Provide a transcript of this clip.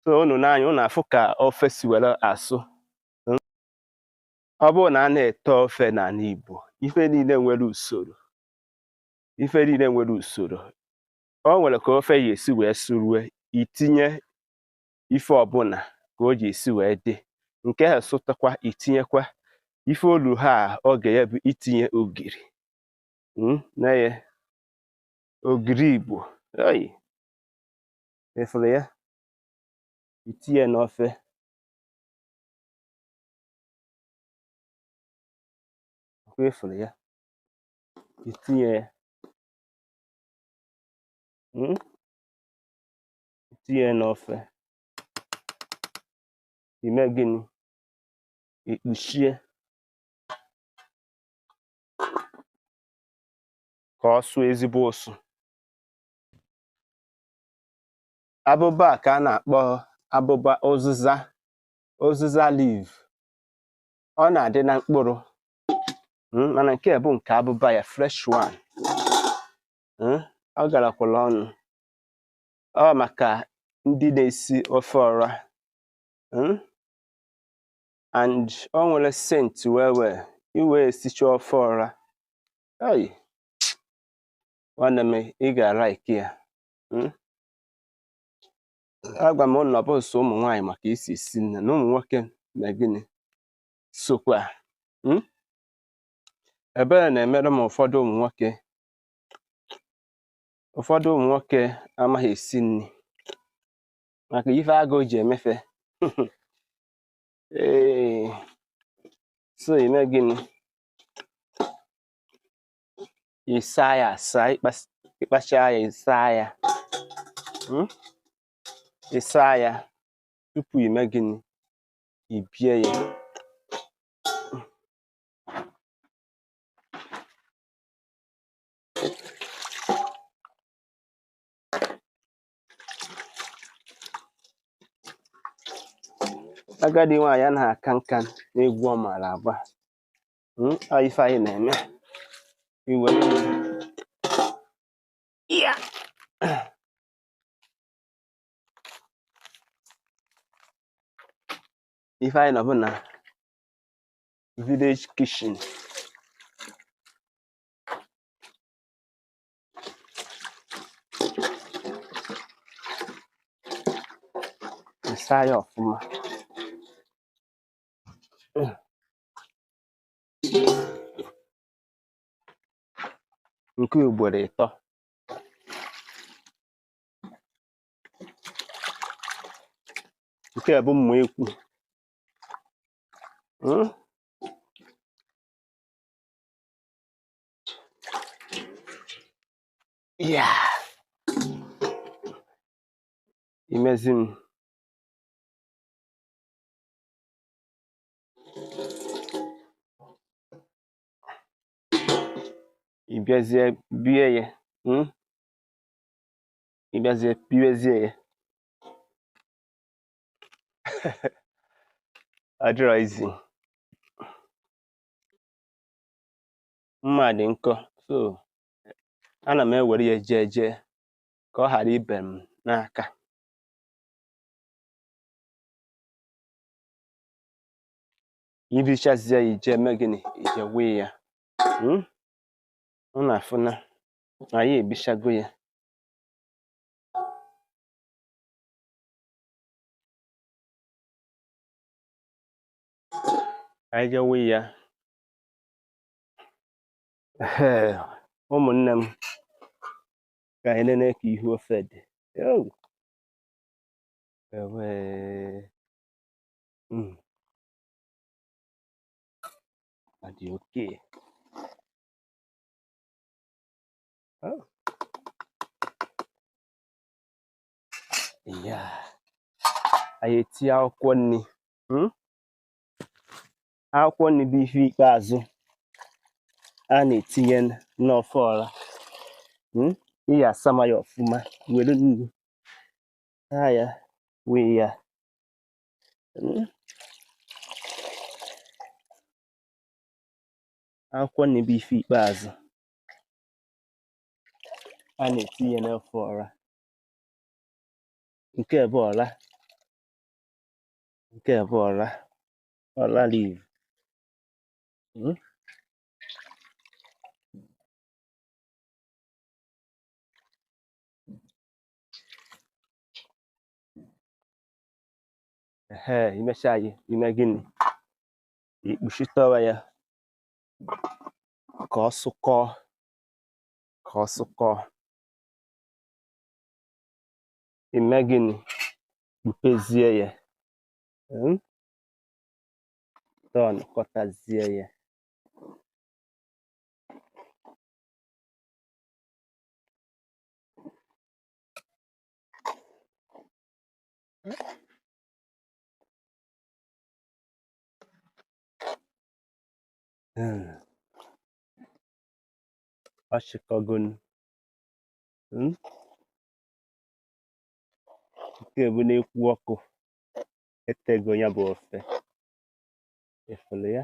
so unu n'anya unu afụ ka ofe si were asụ hmm? ọ bụrụ na a na-ete ofe n'ala Igbo ife niile nwere usoro ife niile nwere usoro o nwere ka ofe ya esi wee sụrue i tinye ife ọbụla ka o ji esi wee dị nke ha sụtakwa i tinyekwa ife o lu ha oge ya bụ itinye ogiri hmm? nee ya ogiri Igbo oyi ị fụrụ ya i tinye n'ofe ọkwa ị fụrụ ya i tinye ya mm? i tinye n'ofe i mee gịnị i kpuchie ka ọ sụọ ezigbo ụsụ abụba a ka a na-akpọ abụba ụzịza ụzịza leaf ọ na-adị na mkpụrụ mm, mana nke a bụ nke abụba ya fresh one mm, ọ garakwara ọnụ ọ maka ndị na-esi ofe ọra mm, and o nwere scent wee wee i wee esicha ofe ọra nwanne m ị ga-alaiki ya hmm? agwa m unu na ọ bụrọ sọ ụmụ nwaanyị ma ka e si esi nni na ụmụ nwoke mee gịnị sokwa hmm? ebere na-emere m ụfọdụ ụmụ nwoke ụfọdụ ụmụ nwoke amaghị esi nri maka ife agụụ ji eme fa ee so i mee gịnị ị saa ya asaa ị kpas- ị kpachaa ya ị saa ya Mm? ị saa ya tupu i mee gịnị i bie ya agadi nwaanyị anaghị aka nka n'egwu ọ maara agba hmm, ife anyị na-eme iwe ife anyị nọ bụ na village kitchen ị saa ya ọfụma nke ugboro ịtọ nke a bụ mma ekwu Hmm? ya imezi m ị bịazie bie ya hmm? ị bịazie biezie ya adịrọ izi mma dị nkọ so ana m ewere ya jeje ka ọ ghara ibe m n'aka i bichazie ya i je-eme gịnị i je-ewe ya hmm? ọ na-afụ na anyị ebichago ya anyị je-ewe ya ụmụnne m ka anyị nene ka ihu ofe dị Mm. Ọ dị okay. Ha? Ya. Anyị etinye akwụkwọ nri. Hmm? Akwụkwọ nri bụ ife ikpeazụ a na-etinye n'ofe ọra. Hmm? Ị ya-asama ya ọfụma were nnu. saa ya wee ya hmm. akwụkwọ nri bụ ife ikpeazụ a na-etinye n'ofe ọra nke bụ ọra nke bụ ọra ọra leaf hmm. ehe i mechaa ya i mee gịnị i kpuchitụwa ya ka ọ sụkọọ ka ọ sụkọọ i mee gịnị kpupezie ya hmm? turn kọtazie ya Hmm. Achịkọgo m. Hmm? Nke bụ n'ekwu ọkụ etego ya bụ ofe ị fụrụ ya